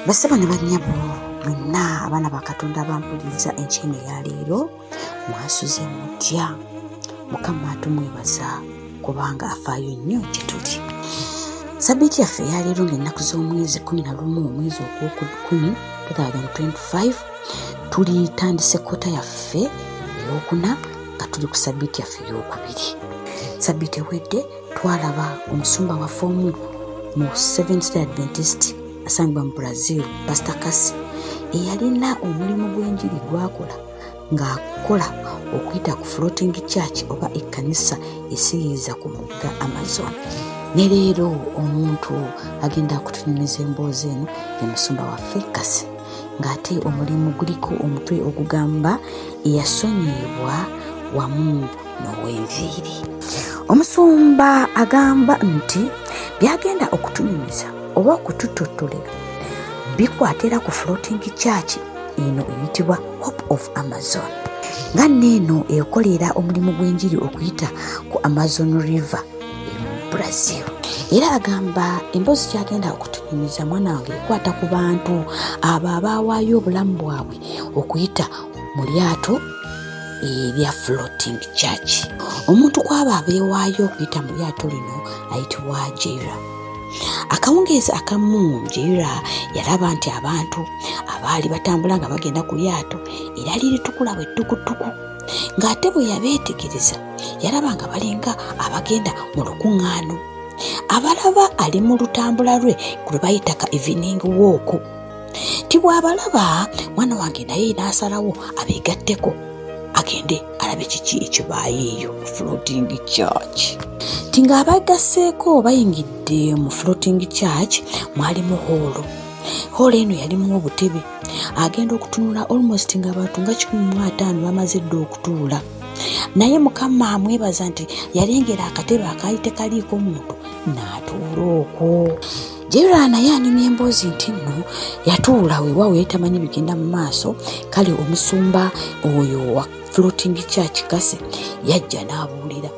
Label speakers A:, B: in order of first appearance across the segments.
A: basaba ne bannyabo mwenna abaana ba katonda abampuliriza enkyeno eya leero mwasuze mutya mukama tumwebaza kubanga afaayo nnyo gye tuli sabiti yaffe eyaleero ng'ennaku z'omwezi 11 omwezi ogwokukumi 2025 tulitandise kota yaffe eyokuna nga tuli ku sabiiti yaffe eyokubiri sabiiti ewedde twalaba omusumba waffe omu mu seventh day adventist asangibwa mu brazil pasta kasi eyalina omulimu gw'enjiri gwakola ng'akola okuyita ku floating church oba ekkanisa esiyiiza ku mugga amazon ne leero omuntu agenda kutunyumiza emboozi eno ye musumba waffe kasi ng'ate omulimu guliko omutwe ogugamba eyasonyiyibwa wamu n'ow'enviiri omusumba agamba nti byagenda okutunyumiza oba okututottolera bikwatira ku floating church eno eyitibwa hope of amazon nga neeno ekolera omulimu gw'enjiri okuyita ku amazon river brazil era agamba emboozi kyagenda okutunyumiza mwana wange ekwata ku bantu abo abaawaayo obulamu bwabwe okuyita mu lyato erya floating church omuntu kwabo abeewaayo okuyita mu lyato lino ayitibwa jera akawungeezi akamu jera yalaba nti abantu abaali batambula nga bagenda ku lyato era liritukula bwe ttukutuku ng'ate bwe yabeetegereza yalaba nga balinga abagenda mu lukuŋŋaano abalaba ali mu lutambula lwe lwe bayita ka evening wooku ti bw'abalaba mwana wange naye n'asalawo abeegatteko agende alabe kiki ekibaayeeyo mu floating church ti ng'abagasseeko bayingidde mu floating church mwalimu hoolo hoolo eno yalimu obutebe agenda okutunula almost nga abantu nga kikumi mu ataano bamaze dda okutuula naye mukama amwebaza nti yalengera akatebe akaali tekaliiko muntu n'atuula okwo jera naye anyumya emboozi nti nno yatuula weewaawo yali tamanyi bigenda mu maaso kale omusumba oyo floating church kase yajja n'abuulira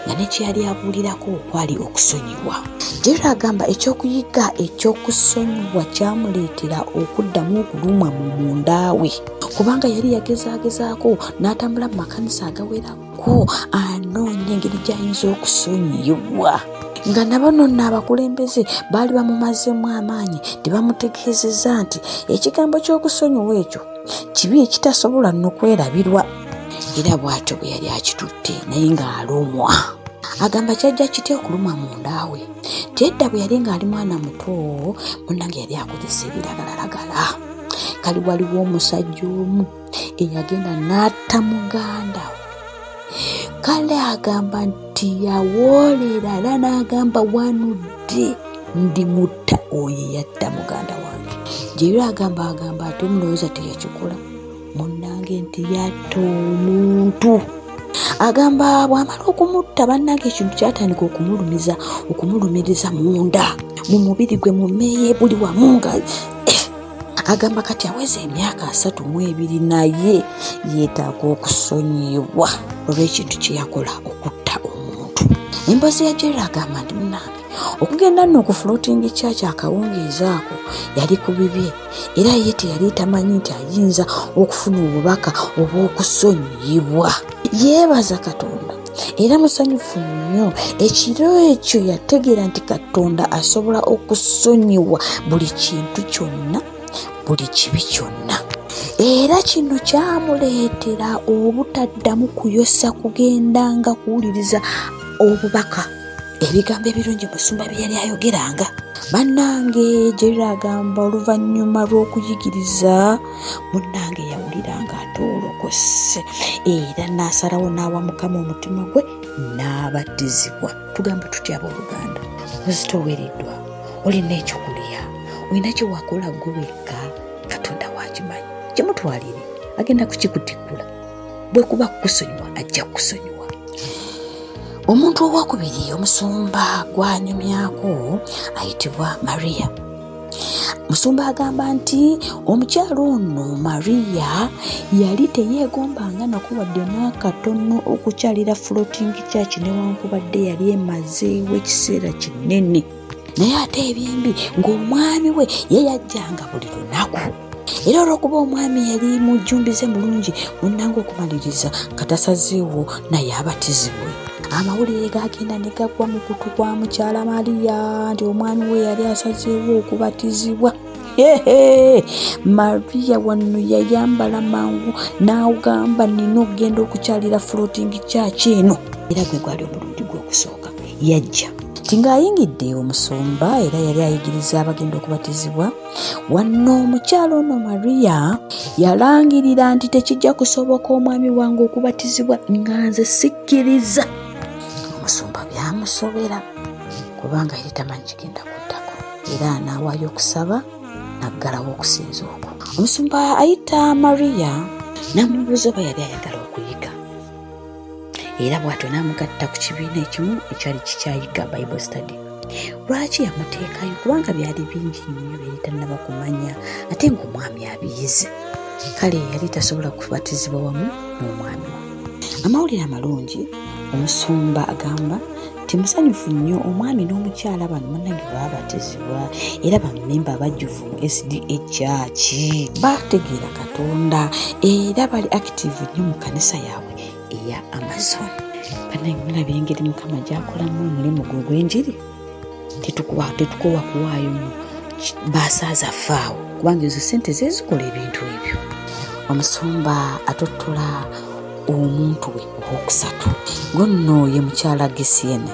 A: nga ne kye yali abuulirako okwali okusonyiwa jera agamba eky'okuyigga eky'okusonyiwa kyamuleetera okuddamu okulumwa mu mundaawe kubanga yali yagezaagezaako n'atambula mu makanisa agawerako anoonya engeri gy'ayinza okusonyiwa nga nabano nno abakulembeze baali bamumazeemu amaanyi tebamutegeezeza nti ekigambo ky'okusonyiwa ekyo kibi ekitasobola no kwerabirwa era bw'atyo bwe yali akitutte naye ng'alumwa agamba kyajja kitya okuluma mundaawe tedda bwe yali ng'ali mwana muto munange yali akozesa ebiragalalagala kali waliwo omusajja omu eyagenda n'atta muganda kale agamba nti yawoolera era n'agamba wanudde ndi mutta oyo yatta muganda wange gyeyira agamba agamba ate omulowooza teyakikola munnange nti yatta omuntu agamba bw'amala okumutta bannange ekintu kyatandika okumulumiza okumulumiriza munda mu mubiri gwe mumeeye buli wamu nga agamba kati aweza emyaka asatu mu ebiri naye yeetaaga okusonyibwa olw'ekintu kye yakola okutta omuntu emboozi ya jera agamba nti munange okugenda nno ku floating church akawungeezi ako yali ku bibye era ye teyali tamanyi nti ayinza okufuna obubaka obw'okusonyiyibwa yeebaza katonda era musanyufu nnyo ekiro ekyo yategeera nti katonda asobola okusonyiwa buli kintu kyonna buli kibi kyonna era kino kyamuleetera obutaddamu kuyosa kugendanga kuwuliriza obubaka ebigambo ebirungi musumba bye yali ayogeranga bannange jeriro agamba oluvannyuma lw'okuyigiriza munnange yawulira nga atoolokose era n'asalawo n'awa mukama omutima gwe n'abatizibwa tugamba tutya abooluganda muzito owereddwa olina ekyokulya olina kyewakola gwe wekka katonda wakimanyi kyemutwalire agenda kukikutikkula bwekuba kukusonyiwa ajja kukusonyiwa omuntu owokubiri omusumba gwanyumyako ayitibwa maria musumba agamba nti omukyalo ono mariya yali teyeegombanga nako wadde n'akatono okukyalira floating church newankubadde yali emazeewo ekiseera kinene naye ate ebyembi ng'omwami we ye yajjanga buli lunaku era olwokuba omwami yali mujjumbize mulungi munnanga okumaliriza nga tasazeewo naye abatizibwe amawulire gagenda ne gagwa mu kutu kwa mukyala mariya nti omwami we yali asazeewo okubatizibwa mariya wano yayambala mangu n'agamba nina okugenda okukyalira floating kyaki eno era gwe gwali omulundi gw'okusooka yajja ti ng'ayingidde omusumba era yali ayigiriza abagenda okubatizibwa wanno omukyalo ono mariya yalangirira nti tekijja kusoboka omwami wange okubatizibwa nga nze sikkiriza omusumba byamusobera kubanga yali tamanyi kigenda kuddako era anaawayo okusaba naggalawo okusinza okwo omusumba ayita mariya namubuuza oba yali ayagala okuyiga era bw'atyo n'amugatta ku kibiina ekimu ekyali kikyayiga bible study lwaki yamuteekayo kubanga byali bingi nnyo byali tannaba kumanya ate ng'omwami abiyize kale yali tasobola kubatizibwa wamu n'omwami we amawulire amalungi omusumba agamba nti musanyufu nnyo omwami n'omukyala bano munange babatizibwa era bamemba abajjuvu mu sda kyaki bategeera katonda era bali active nnyo mu kanisa yaabwe eya amazon banaye mulaba engeri mukama gyakolamu omulimu gwe ogwenjiri tetukowa kuwaayo mu basaaza faawo kubanga ezo sente zezikola ebintu ebyo omusumba atottula omuntu we owokusatu gwe nno ye mukyala gesiena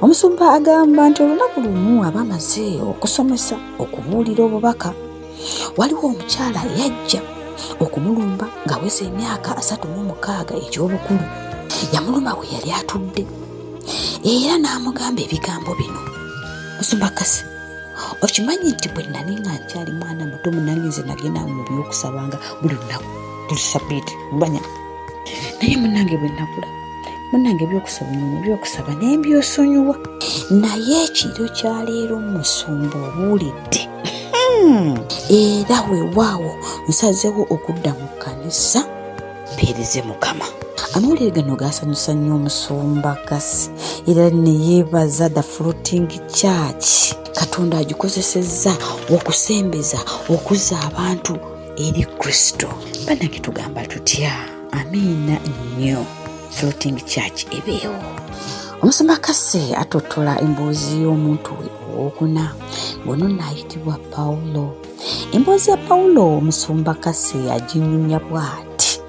A: omusumba agamba nti olunaku lumu aba amaze okusomesa okubuulira obubaka waliwo omukyala yajja okumulumba ng'aweza emyaka asatu mu mukaaga egy'obukulu yamuluma we yali atudde era n'amugamba ebigambo bino musumba kasi okimanyi nti bwe nali nga nkyali mwana muto munange nze nagenda mu by'okusabanga buli lunaku buli sabiiti manya naye munange bwenakula munange ebyokusaba nyuma ebyokusaba naye byosonyiwa naye ekiro kyaleero musumba obuulidde hmm. era wewaawo nsazewo okudda mu kanisa mpeereze mukama amawulire gano gaasanyusa nnyo omusumba kasi era neyeebaza the floating church katonda agikozesezza okusembeza okuzza abantu eri kristo banange tugamba tutya amiina nnyo floating church ebeewo omusumba kase atottola emboozi y'omuntu we owokuna ngono naayitibwa pawulo emboozi ya pawulo omusumba kase aginyumya bw'ati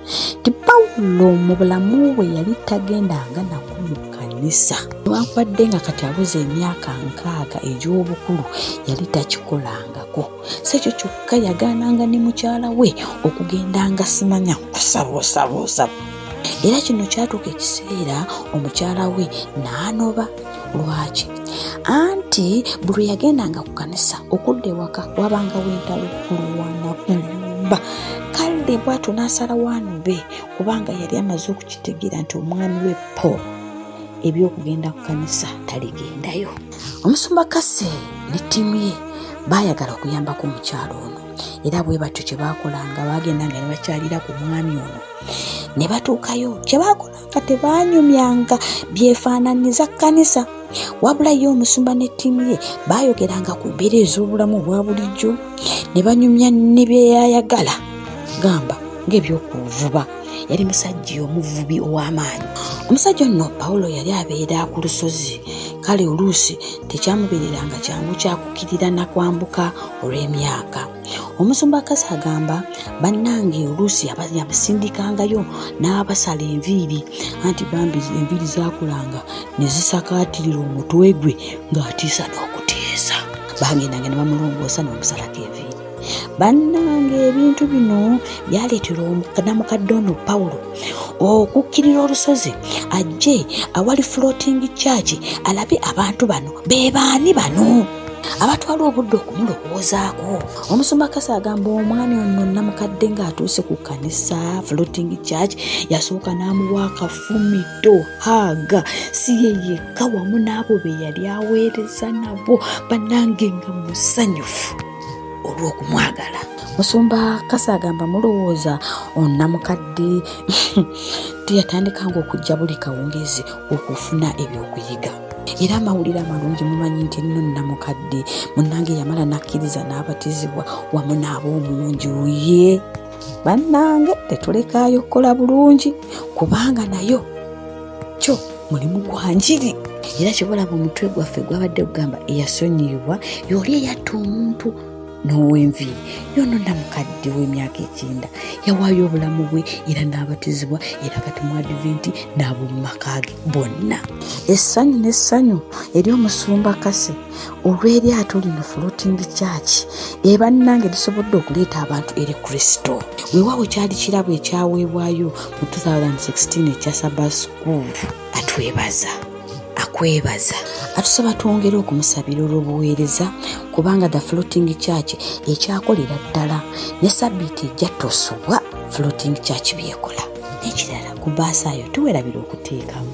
A: ti pawulo mu bulamu bwe yali tagendanga naku mu kkanisa newankubadde nga kati abuza emyaka nkaaga egy'obukulu yali takikolangako si ekyo kyokka yagaananga ne mukyala we okugenda nga simanya kusabuusabuusa era kino kyatuuka ekiseera omukyala we n'anoba lwaki anti buli yagendanga ku kanisa okudda ewaka wabanga wentalo kulwana kumba kale bwatyo n'asala waanu be kubanga yali amaze okukitegeera nti omwami we paul eby'okugenda ku kanisa taligendayo omusumba kase ne ttiimu ye baayagala okuyambako omukyalo ono era bwe batyo kye baakolanga baagendanga ne bakyalira ku mwami ono ne batuukayo kye baakolanga tebaanyumyanga byefaananyiza kkanisa wabula ye omusumba ne ttiimu ye baayogeranga ku mbeera ez'obulamu obwa bulijjo ne banyumya ne byeyayagala gamba ng'ebyokuvuba yali musajja omuvubi ow'amaanyi omusajja onno pawulo yali abeera ku lusozi kale oluusi tekyamubeereranga kyangu kyakukirira na kwambuka olw'emyaka omusumba kasi agamba bannange oluusi yabasindikangayo n'abasala enviiri anti bambi enviiri zakulanga ne zisakaatirira omutwe gwe ng'atiisa n'okutiisa bagendanga ne bamulongoosa n'omusalako enviiri bannange ebintu bino byaleetera namukadde ono pawulo okukkirira olusozi ajje awali floating church alabe abantu bano be baani bano abatwala obudde okumulowoozaako omusumba kasa agamba omwami ono namukadde ng'atuuse ku kanisa floating church yasooka n'amuwa akafumito haaga si ye yekka wamu n'abo be yali aweereza nabo banange nga musanyufu olw'okumwagala musumba kasa agamba mulowooza onamukadde teyatandika nga okujja buli kawungezi okufuna ebyokuyiga era amawulire amalungi mumanyi nti nno namukadde munange yamala nakkiriza n'abatizibwa wamu n'abaomungi uye bannange tetulekaayo kukola bulungi kubanga nayo kyo mulimu gwa njiri era kyobalaba omutwe gwaffe gwabadde kugamba eyasonyiyibwa yooli eyatta omuntu n'owenviiri yono namukadde w'emyaka ekyenda yawaayo obulamu bwe era n'abatizibwa era kati mu adventi n'ab'omu maka ge bonna essanyu n'essanyu eri omusumba kase olw'eryato lino floating church ebannange lisobodde okuleeta abantu eri kristo weewaawo kyali kirabo ekyaweebwayo mu 2016 ekya saba school atwebaza kwebaza atusaba twongere okumusabira olw'obuweereza kubanga the floating church ekyakolera ddala ne sabbiiti ejja tosubwa floating church byekola n'ekirala ku baasaayo tuwerabira okuteekamu